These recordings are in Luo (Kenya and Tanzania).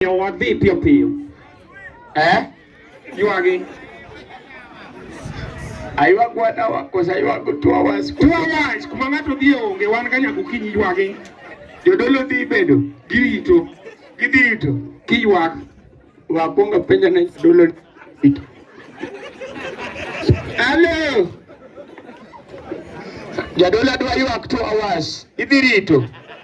Yo wadhi piyo piyo. Eh? Ywagi. Aywag wadawa kosa aywag two hours. Two hours kuma ng'ato dhi onge wan ka nyaka okinyi ywagi. Jodolo dhi bedo girito. Gidhi rito kiywak. Wakwongo penjo ne jodolo rito. Hello. Jadolo adwa ywak two hours. Idhi rito.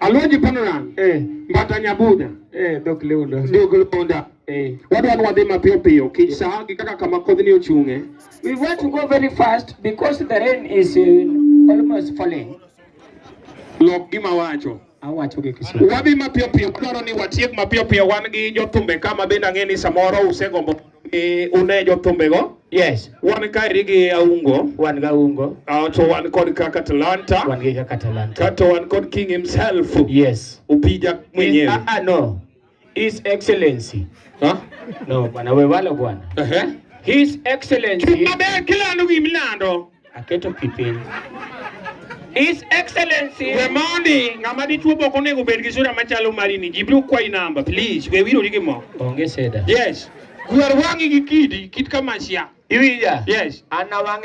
Alonji panora. Eh. Mbata nyabuda. Eh, dok leuda. Dok leuda. Eh. Wadwa nwadhi mapiyo piyo kich eh. saa gi kaka kama kodhni ochung'e. We want to go very fast because the rain is uh, almost falling. Lok gima wacho. Awacho gi Kiswahili. Wadhi mapiyo piyo, dwaro ni watiek mapiyo piyo wan gi jothumbe kama bende ang'e ni samoro usegombo E, une jotumbego yes wan kaeri gi aungo wan ga ungo uh, to wan kod kaka talanta wan gi kaka talanta kato wan kod king himself yes upija mwenyewe ah, ah, no his excellency huh? no bwana we walo bwana uh -huh. his excellency kila ndugu mlando Aketo pi piny. His Excellency. We mondi ng'ama dichuo boko onego bed gi sura machalo mari ni jibiro kwayi namba please we wirori gi mo. Onge seda. Yes. Gwer wang'i gi kidi kit kamasia. Iwinja? Yes. An awang'e